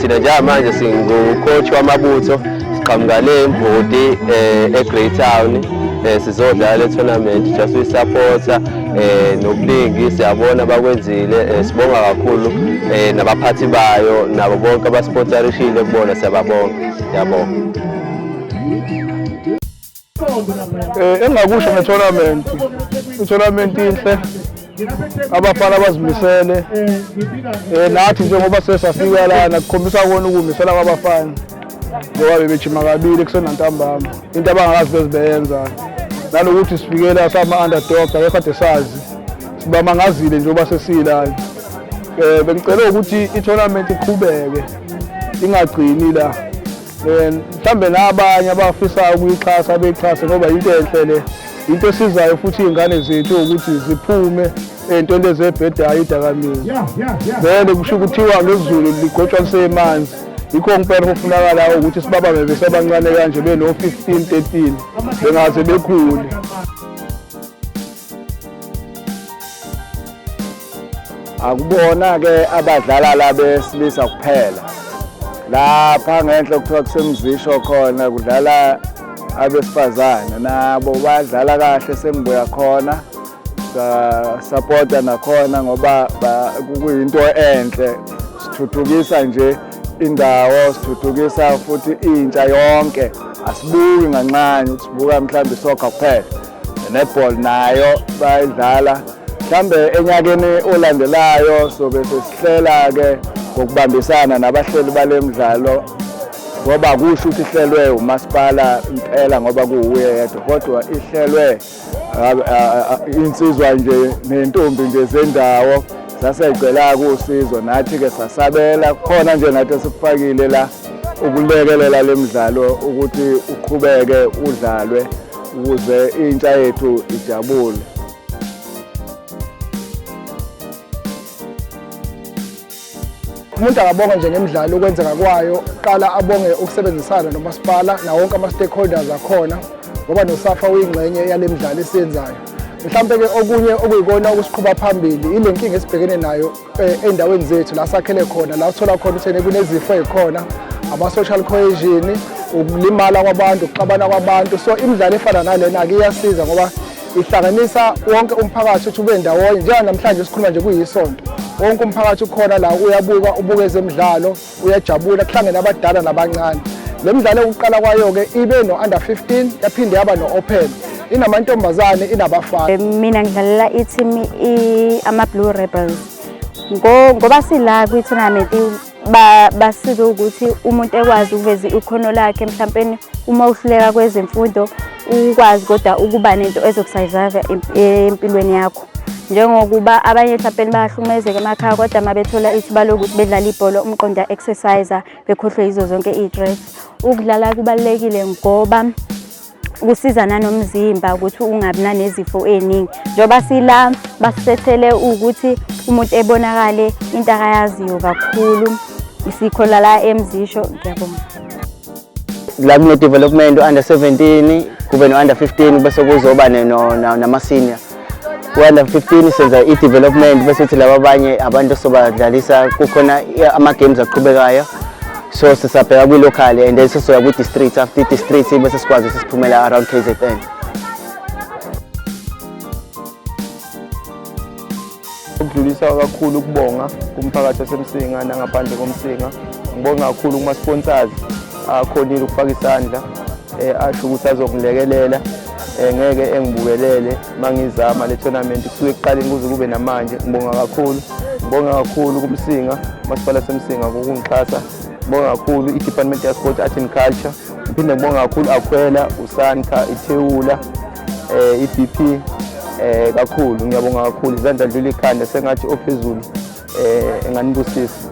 thina njengamanje singucoach wamabutho siqhamuka le mbodi um eh, e-greytown um eh, sizodlala le tournament just uyisapotha eh nokuningi siyabona bakwenzile eh, sibonga kakhulu eh nabaphathi bayo nabo bonke abasponsorishile kubona siyababonga siyabonga eh engakusho ngetournament itournament inhle abafana abazimisele eh nathi njengoba sesafika lana kukhombisa kona ukumisela kwabafana ngoba bebejima kabili kusenantambama into abangakazi bezibeyenza nanokuthi sifikela sama-underdog akekade sazi sibamangazile njengoba sesiyilana um eh, bengicele ukuthi ithonamenti iqhubeke ingagcini la um mhlawumbe nabanye abafisayo ukuyixhasa beyixhase ngoba yinto enhle le into esizayo futhi iy'ngane zethu ukuthi ziphume ey'ntweni ezebhedayo idakamizwa vele kusho ukuthiwa ngezulu ligotshwa lisemanzi yikho ngempela kufunakalayo ukuthi sibabambe besebancane kanje beno-15 13 bengaze bekhule akubona-ke abadlala la besilisa kuphela lapha ngenhla kuthiwa kusemzisho khona kudlala abesifazane nabo badlala kahle sengibuya khona Sasapota nakhona ngoba kuyinto enhle, sithuthukisa nje indawo, sithuthukisa futhi intsha yonke. Asibuki nganxanye ukuthi sibuka mhlawumbe isoccer kuphela, netball nayo bayidlala. Mhlawumbe enyakeni olandelayo sobe sesihlela-ke ngokubambisana nabahleli bale mdlalo ngoba kusho ukuthi ihlelwe umasipala impela ngoba kuwuye yedwa kodwa ihlelwe insizwa nje nentombi nje zendawo saseyicela-ke usizo nathi-ke sasabela khona nje nathi esikufakile la ukulekelela le mdlalo ukuthi uqhubeke udlalwe ukuze intsha yethu ijabule umuntu akabonga nje ngemidlalo ukwenzeka kwayo qala abonge ukusebenzisana nomasipala nawo wonke ama-stakeholders akhona ngoba nosafa uyingxenye yale midlalo esiyenzayo mhlawumbe-ke okunye okuyikona okusiqhuba phambili yile nkinga esibhekene nayo eh, ey'ndaweni zethu la sakhele khona la uthola khona uthene kunezifo ey'khona ama-social cohesion ukulimala kwabantu ukuxabana kwabantu so imidlalo efana nalena-ke iyasiza ngoba ihlanganisa wonke umphakathi ukuthi ube ndawonye njenganamhlanje sikhuluma nje kuyisonto wonke umphakathi ukhona la uyabuka ubuka ezemidlalo uyajabula kuhlangene abadala nabancane le midlalo yokuqala kwayo-ke ibe no-under 15 yaphinde yaba no-open inamantombazane inabafana eh, mina ngidlalela i-team ama-blue rebels ngoba sila kwi-tournament basize ukuthi umuntu ekwazi ukuveza ikhono lakhe mhlawumbe uma uhluleka kwezemfundo ukwazi kodwa ukuba nento ezokusurvive empilweni yakho njengokuba abanye mhlawumbe bayahlukumezeka emakhaya kodwa uma bethola ithuba lokuthi bedlala ibhola umqonda exercise bekhohlwe yizo zonke iy'tress ukudlala kubalulekile ngoba kusiza nanomzimba ukuthi ungabi nanezifo eziningi njengoba sila basisethele ukuthi umuntu ebonakale into akayaziyo kakhulu isikho lala emzisho ngiyabonga la kune development under 17 kube no under 15 bese kuzoba nama senior Under 15 senza i-development bese kuthi laba abanye abantu sobadlalisa kukhona ama-games aqhubekayo so sisabheka kwi-local and then sisoya kwi-district after i-district bese sikwazi ukuthi siphumela around k z n Ukudlulisa kakhulu ukubonga kumphakathi waseMsinga nangaphandle koMsinga. Ngibonga kakhulu kuma-sponsors akhonile ukufaka isandla eh, asho ukuthi azokungilekelela eh, ngeke engibukelele mangizama le tournament kusuke ekuqaleni kuze kube namanje ngibonga kakhulu ngibonga kakhulu kumsinga masipala semsinga ngokungixhasa ngibonga kakhulu i-department ya-sport art and culture ngiphinde ngibonga kakhulu akhwela usanka ithewula eh iBP eh kakhulu ngiyabonga kakhulu izandla dlula ikhanda sengathi ophezulu eh enganibusisa